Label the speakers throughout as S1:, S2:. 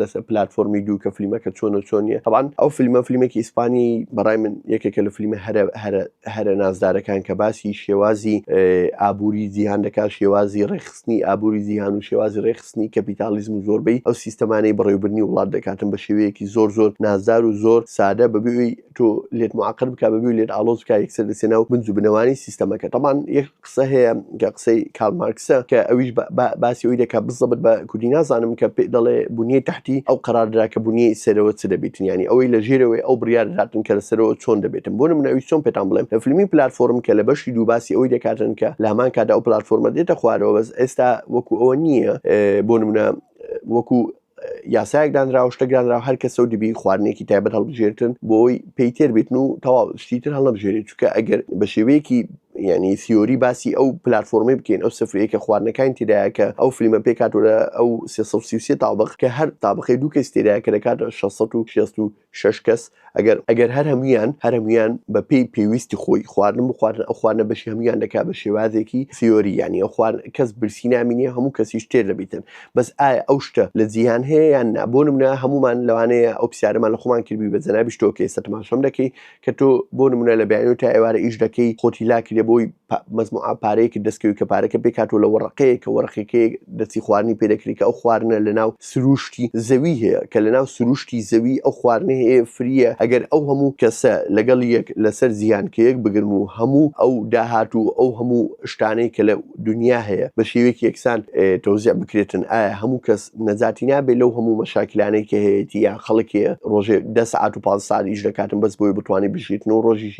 S1: لەسەر پلتفۆرمی دوو کە فلیمەکە چۆن و چۆن نیە تەبان ئەو فیلمە فلیمێکی ئیسپانی بەڕای من یەکێکە لە فلیمە هەرە هەرە هەرە نازدارەکان کە باسی شێوازی ئابووری جیهان دەکا شێوازی ڕێخستنی ئابووری جیهان و شێوازی ڕێخستنی کەپیتالیزم و زۆربەی ئەو سیستەمانەی بەڕێوبرنی وڵات دەکاتن بە شێوەیەکی زۆر زۆر نازدار و زۆر سادە بەبێ تۆ لێت معقل بکە بەبی لێت ئالۆز بکە یەکسەر دەسێ ناو بنج و بنەوانی سیستەمەکە تەمان یەک قسە هەیە کە قسەی کارل مارکسە کە ئەویش باسی ئەوی دەکە بزەبت بە کوردی نازانم کە پێ دەڵێ بنیەی تحتی ئەو قەراردرا کە بنیەی سەرەوە چ دەبێتن ینی ئەوەی لە ژێرەوەی ئەو بڕیار دەداتن کە لە سەرەوە چۆن دەبێتن بۆ منە ئەوی چۆن پێتان بڵێم لە فیلمی پلتفۆرم کە لە بەشی دوو باسی ئەوی دەکاتن کە لە هەمان کادا ئەو پلتفۆرمە دێتە خوارەوە بەس ئێستا وەکو ئەوە نییە بۆ منە وەکو یاسایەک دانرا و شتەک دانرا و هەر کەسە و دەبی خواردنێکی تایبەت هەڵبژێرتن بۆی پێی تێر بێتن و تەواو شتی تر هەڵنەبژێرێت چونکە ئەگەر بە شێوەیەکی یعنی سیۆری باسی ئەو پلتفۆرمی بکەین ئەو سفرەیە کە خواردنەکان تێدایە کە ئەو فلیمە پێکاتۆرە ئەو 333 تابق کە هەر تابقی دوو کەس تێدایە کە دەکاتە 660 شەش کەس، ئەگەر ئەگەر هەر هەموویان هەر هەموویان بە پێی پێویستی خۆی خواردن بخوارن ئەو خواردنە بەشی هەموویان دەکا بە شێوازێکی سیۆری یانی ئەو خوار کەس برسی نامینێ هەموو کەسیش تێر دەبیتن بەس ئایا ئەو شتە لە جیهان هەیە یان نا بۆ نمونە هەموومان لەوانەیە ئەو پرسیارەمان لە خۆمان کردبی بە جەنابیش تۆ کە ئێستا تەماشام دەکەی کە تۆ بۆ نمونە لە بەیانیو تا ئێوارە ئیش دەکەی خۆتی لاکردە بۆی پا مەجموعە پارەیەکت دەست کەوی کە پارەکە پێک هاتوە لە وەڕەقەیەک کە وەڕەقەکەی دەستی خواردنی پێ دەکری کە ئەو خواردنە لە ناو سروشتی زەوی هەیە کە لە ناو سروشتی زەوی ئەو خواردنە هەیە فریە ئەگەر ئەو هەموو کەسە لەگەڵ یەک لە سەر زیان کە یەک بگرم و هەموو ئەو داهات و ئەو هەموو شتانەی کە لە دونیا هەیە بە شێوەیەکی یەکسان تەوزیع بکرێتن ئایا هەموو کەس نەجاتی نابێت لەو هەموو مەشاکلانەی کە هەیەتی یا خەڵکێ ڕۆژێ دە ساعت و پ ساعت ئیش دەکاتم بەس بۆی بتوانانی بژیتن و ڕۆژی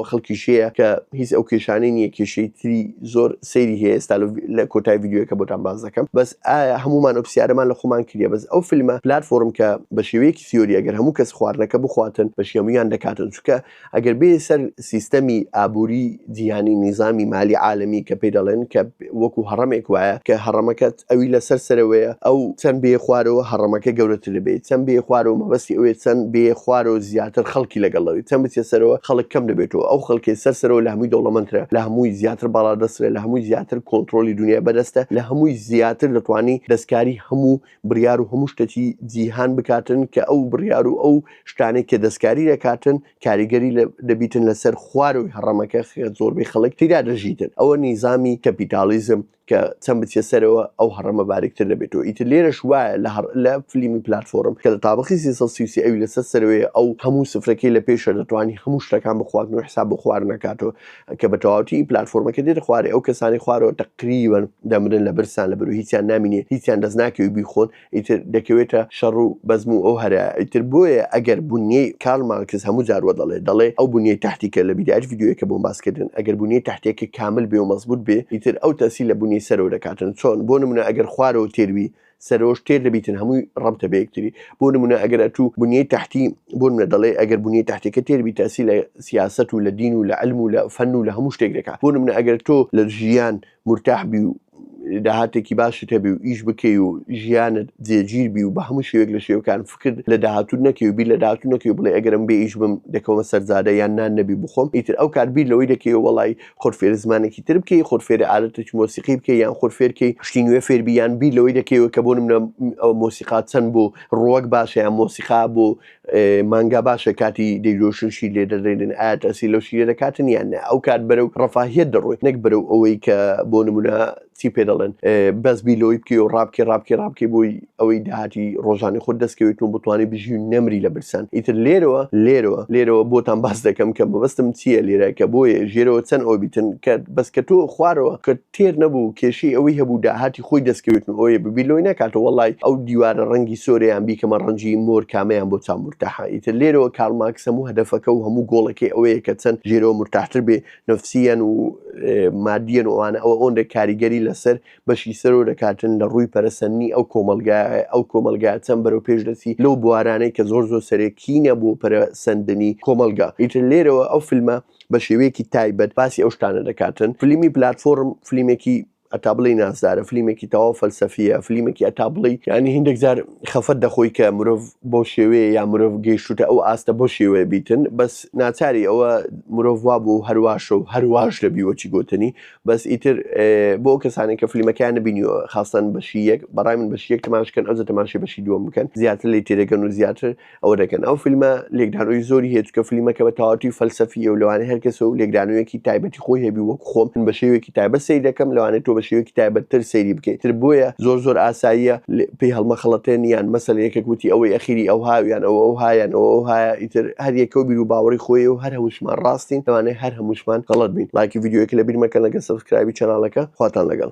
S1: خەڵکی شەیە کە هیچ ئەو کێشانەی نییە کێشەی تری زۆر سەیری هەیە ئێستا لە کۆتای یددیوەکە بۆتان باز دەکەم بەس ئایا هەمومان ئەو پرسیارەمان لە خۆمان کردە بەس ئەو فیلمە پلتفۆرم کە بە شێوەیەکی سیۆری ئەگەر هەموو کەس خواردنەکە بخواتن بەشیەمویان دەکاتن چکە ئەگەر بێیە سەر سیستەمی ئابووری جیهانی نیزامی مالی عالەمی کە پێی دەڵێن کە وەکو هەڕەمێک وایە کە هەڕەمەکەت ئەوی لەسەر سەرەوەیە ئەو چەند بێ خوارەوە هەڕەمەکە گەورەتر دەبێت چەند بێ خوارەوە مەبەستی ئەوێت چەند بێ خوارەوە زیاتر خەڵکی لەگەڵەوەی چەند بچێت سەرەوە خەڵک کەم دەبێتەوە ئەو خەڵکی سەر سەرەوە لە هەمووی دەوڵەمەندترە لە هەمووی زیاتر باڵادەسترە لە هەمووی زیاتر کۆنتترۆلی دنیای بەدەستە لە هەمووی زیاتر دەتوانانی دەستکاری هەموو بڕیار و هەموو شتەکی جیهان بکاتن کە ئەو بڕیار و ئەو شتانەی کە دەستکاری دەکاتن کاریگەری دەبیتن لەسەر خوارەوەی هەڕەمەکە زۆربەی خەڵک تیرا دەژیتن ئەوە نیزامی کەپیتالیزم کە چەند بچێ سەرەوە ئەو هەڕەمە باریکتر دەبێتەوە ئیتر لێرەش وایە لە هەر لە فلیمی پلتفۆرم کە لە تابقی سیسی ئەوی لەسەر سەرەوەی ئەو هەموو سفرەکەی لە پێشە دەتوانانی هەموو شتەکان بخواردن و حساب بخوارنەکاتەوە کە بە تەواوەتی پلاتفۆرمەکە دێتە خوارێ ئەو کەسانی خوارەوە تەقریبەن دەمرن لە برسان لە بەرو هیچیان نامینێ هیچیان دەست ناکەوی بیخۆن ئیتر دەکەوێتە شەڕ و بەزم و ئەو هەرە ئیتر بۆیە ئەگەر بنیەی کارل مارکس هەموو جار وە دەڵێ دەڵێ ئەو بنیەی تحتی کە لە بیدایەت ڤیدیۆیەکە بۆم باس کردن ئەگەر بنیەی تحتیەکە کامل بێ و مەزبووت بێ ئیتر ئەو تەئسیل لە بنیەی سەرەوە دەکاتن چۆن بۆ نمونە ئەگەر خوارەوە تێر بی سەرۆش تێر دەبیتن هەمووی ڕەبتە بە یەکتری بۆ نمونە ئەگەر ئەتوو بنیەی تحتی بۆ منە دەڵێ ئەگەر بنیەی تحتەکە تێر بی تاسی لە سیاست و لە دین و لە علم و لە فەن و لە هەموو شتێک دەکات بۆ منە ئەگەر تۆ لە ژیان مرتاح بی و داهاتێکی باشت هەبی و ئیش بکەی و ژیانت جێگیر بی و بە هەموو شێوێک لە شێوەکان فکرد لە داهاتوت نەکەی و بیر لە داهاتو نەکەی و بڵێ ئەگەرم بێ ئیش بم دەکەمە سەرزادە یان نان نەبی بخۆم ئیتر ئەو کار بیر لەوەی دەکەی وڵی خۆت فێری زمانێکی تر بکەی خۆت فێری عادەتێکی مۆسیقی بکەی یان خۆت فێرکەی شتی نوێ فێربی یان بیر لەوەی دەکەیەوە کە بۆ منە ئەو مۆسیقا چەند بۆ ڕوەک باشە یان مۆسیقا بۆ مانگا باشە کاتی دەیرۆشنشی لێ دەدەێنن ئایا تاسی لەو شیرە دەکاتن یان ئەو کات بەرەو ڕفاهیت دەڕۆی نەک بەرەو ئەوەی کە بۆ نمونە چی پێ دەڵێن بەس بیلۆی بکەی و ڕابکەی ڕابکەی ڕابکەی بۆی ئەوەی داهاتی ڕۆژانی خۆ دەستکەوێت و بتوانانی بژی و نەمری لە برسان ئیتر لێرەوە لێرەوە لێرەوە بۆتان باس دەکەم کە مەبەستم چییە لێرە کە بۆیە ژێرەوە چەند ئەو بیتن کە بەس کە تۆ خوارەوە کە تێر نەبوو کێشەی ئەوەی هەبوو داهاتی خۆی دەستکەوێت و ئەوەیە ببی لۆی ناکاتەوە وەڵی ئەو دیوارە ڕەنگی سۆریان بیکەمە ڕەنجی مۆر کامەیان بۆ چاو مرتاحە ئیتر لێرەوە کارڵ ماکس هەموو هەدەفەکە و هەموو گۆڵەکەی ئەوەیە کە چەند ژێرەوە مرتاحتر بێ نەفسییەن و مادییەن و ئەوانە ئەوە ئەوەندە کاریگەری لەسەر بەشی سەرۆ دەکاتن لە ڕووی پەرەسەندنی ئەو کۆمەلگای ئەو کۆمەلگا چەند بەرەو پێش دەچی لەو بوارانەی کە زۆر زۆر سەرەکینە بۆ پەرەسەندنی کۆمەلگا ئیتر لێرەوە ئەو فیلمە بە شێوەیەکی تایبەت باسی ئەو شتانە دەکاتن فلیمی پلاتفۆرم فلیمێکی هەتا بڵێی نازدارە، فلیمێکی تەواو فەلسەفییە، فلیمێکی هەتا بڵێی یانی هیندێک جار خەفەت دەخۆی کە مرۆڤ بەو شێوەیە یا مرۆڤ گەیشتووتە ئەو ئاستە بەو شێوەیە بیتن، بەس ناچاری ئەوە مرۆڤ وا بوو هەر واشە و هەر واش دەبی وەکی گۆتەنی، بەس ئیتر بۆ ئەو کەسانەی کە فلیمەکەیان نەبینیوە خاستەن بەشی یەک، بەڕای من بەشی یەک تەماشە کەن ئەوجە تەماشای بەشی دووەم بکەن زیاتر لێی تێدەگەن و زیاتر ئەوە دەکەن ئەو فیلمە لێکدانەوەی زۆری هەیە چکە فلیمەکە بە تەواتی فەلسەفیە و لەوانەیە هەر کەسە و لێکدانەوەیەکی تایبەتی خۆی هەبی وەک خۆم من بە شێوێکی تایبەت سەیر دەکەم لەوانەیە تۆ بە شێوێکی تایبەتتر سەیری بکەیت تر بۆیە زۆر زۆر ئاساییە لێ- پێی هەڵمەخەڵەتێن یان مەسەلەن یەکێک وتی ئەوەی ئەخیری ئەو هاویان ئەوە ئەو هایان ئەوە ئەو هایە ئیتر هەر یەکە و بیر و باوەڕی خۆی و هەر هەمووشمان ڕاستین لەوانەیە هەر هەمووشمان غەڵەت بین لایکی ڤیدیۆیەکە لەبیر مەکەن لەگەڵ سەبسکرایبی چەناڵەکە خواتان لەگەڵ.